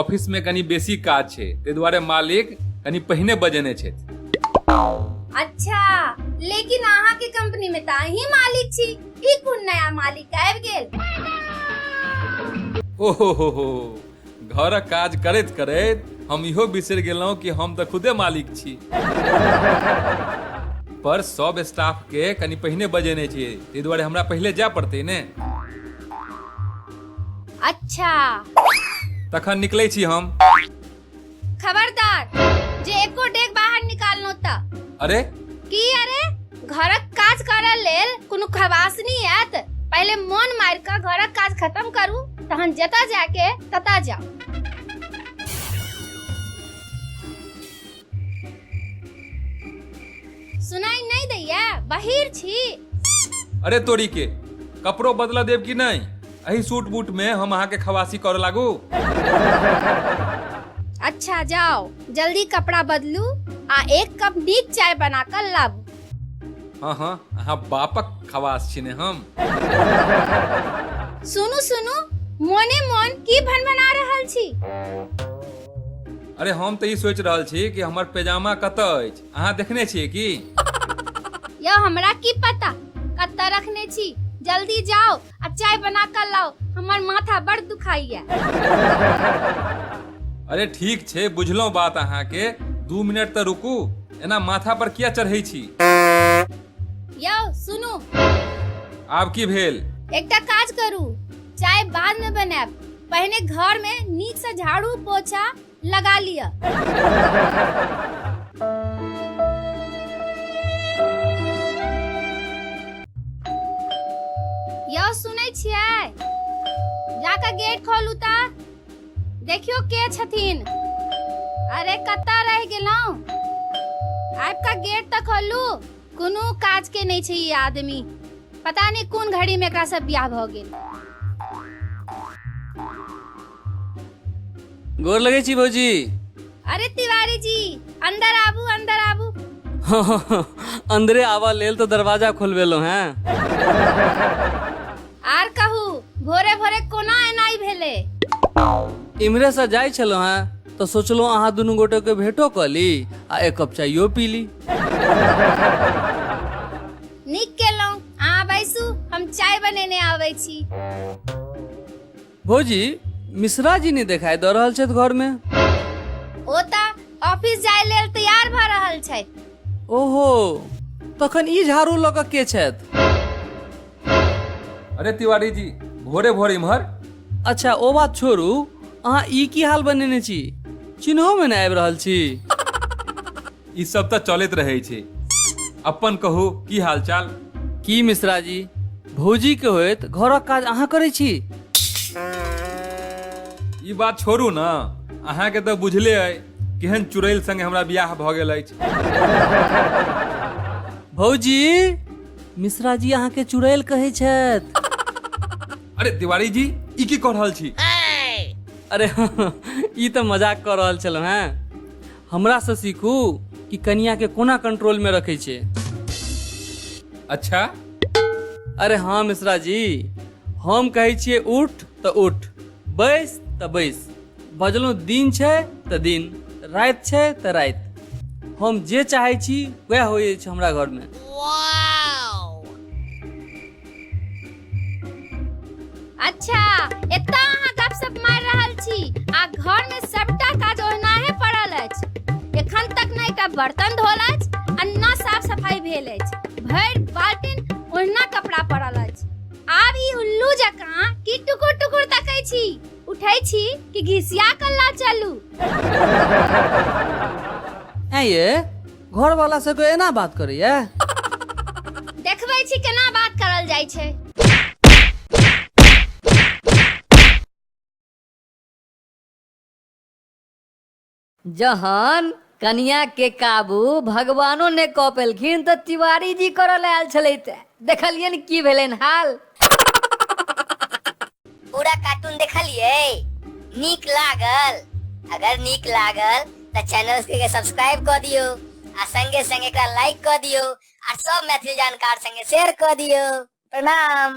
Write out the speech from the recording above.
office में कनी बेसी काज छै ताहि दुआरे मालिक कनी पहिने बजेने छथि अच्छा लेकिन अहाँ के कंपनी में तो अही मालिक छी ई कोन नया मालिक आबि गेल ओहो हो हो घरक काज करैत करैत हम इहो बिसरि गेलहुँ कि हम तऽ खुदे मालिक छी पर सब स्टाफ के कनी पहिने बजेने छियै ताहि दुआरे हमरा पहिले जाय पड़तै ने अच्छा तखन निकलै छी हम खबरदार जे एको डेग बाहर निकालनो त अरे की अरे घरक काज करऽ लेल कोनो खबासनी आयत पहिले मोन मारि कऽ घरक काज खत्म करू तहन जतऽ जाके ततऽ जाउ सुनाई नहीं दैया बहिर छी अरे तोरी के कपड़ो बदला देब कि नहीं अही सूट बूट में हम अहाँ के खवासी कर लागू अच्छा जाओ जल्दी कपड़ा बदलू आ एक कप नीक चाय बना कर लाबू हाँ हाँ अहाँ बापक खवास छिने हम सुनू सुनू मोने मोन की भनभना रहल छी अरे हम तऽ ई सोचि रहल छी कि हमर पैजामा कतऽ अछि अहाँ देखने छियै की यौ हमरा की पता कतऽ रखने छी जल्दी जाओ आ चाय बना कर लाओ हमर माथा बड़ दुखाइया अरे ठीक छै बुझलहुँ बात अहाँके दू मिनट तऽ रुकू एना माथा पर किया चढ़ै छी यौ सुनू आब की भेल एकटा काज करू चाय बाद में बनाएब पहिने घर में नीक से झाड़ू पोछा लगा लिया यौ सुनै छियै जाके गेट खोलू ता देखियो के छथिन अरे कत्ता रह गेलौं आबि कऽ गेट तऽ खोलू कोनो काज के नहीं छै ई आदमी पता नहीं कोन घड़ी में एकरा सब बियाह भ गेल गोर लगै छी भौजी अरे तिवारी जी अंदर आबू अंदर आबू अंदरे आवा लेल तो दरवाजा खोलबेलो हैं आर कहू भोरे भोरे कोना एनाइ भेलै इम्हरे से जाइ छलहुँ हेँ तऽ सोचलहुँ अहाँ दुनू गोटेके भेटो कऽ ली आ एक कप चाइयो पी ली नीक केलहुँ अहाँ बैसू हम चाय बनेने आबै छी भौजी मिश्रा जी नहि देखाई दऽ रहल छथि घरमे ओ तऽ ऑफिस जाय लेल तैयार भऽ रहल छथि ओहो तखन ई झाड़ू लऽ कऽ के छथि अरे तिवारी जी भोरे भोरे इम्हर अच्छा ओ बात छोड़ू अहाँ ई की हाल बनेने छी चिन्होमे नहि आबि रहल छी ई सब तऽ चलैत रहै छै अपन कहू की हालचाल की मिश्रा जी भौजी के होइत घरक काज अहाँ करै छी ई बात छोड़ू ने अहाँके तऽ बुझले अइ केहन चुड़ैल संगे हमरा बियाह भऽ गेल अछि भौजी मिश्रा जी अहाँ के चुड़ैल कहै छथि अरे तिवारी जी ई की कऽ रहल छी अरे ई तऽ मजाक कऽ रहल छलहुँ हैं हमरा से सीखू कि कनिया के कोना कंट्रोल में रखे छे अच्छा अरे हाँ मिश्रा जी हम कहै छियै उठ तऽ उठ बैस तऽ बैस बजलहुँ दिन छै तऽ दिन राति छै तऽ राति हम जे चाहै छी वएह होइए छै हमरा घरमे अच्छा एतऽ अहाँ गपशप मारि रहल छी आ घर में सबटा काज ओहिनाहे पड़ल अछि एखन तक ने एकटा बर्तन धोल अछि आ न साफ सफाई भेल अछि भरि बाल्टीन ओहिना कपड़ा पड़ल अछि आब ई उल्लू जकाँ की टुकुर टुकुर तकै छी उठै छी कि घिसिया कल्ला चलू ऐं ये घर वाला से कोई एना बात करे ये देखबै छी केना बात करल जाइ छै जहन कनिया के काबू भगवानो ने कऽ पेलखिन तऽ तिवारी जी करऽ लए आयल छलै तऽ देखलियनि की भेलनि हाल पूरा कार्टून देखलिए नीक लागल अगर नीक लागल तो चैनल के सब्सक्राइब कर दियो आ संगे संगे का लाइक कर दियो आ सब मैथिली जानकार संगे शेयर कर दियो प्रणाम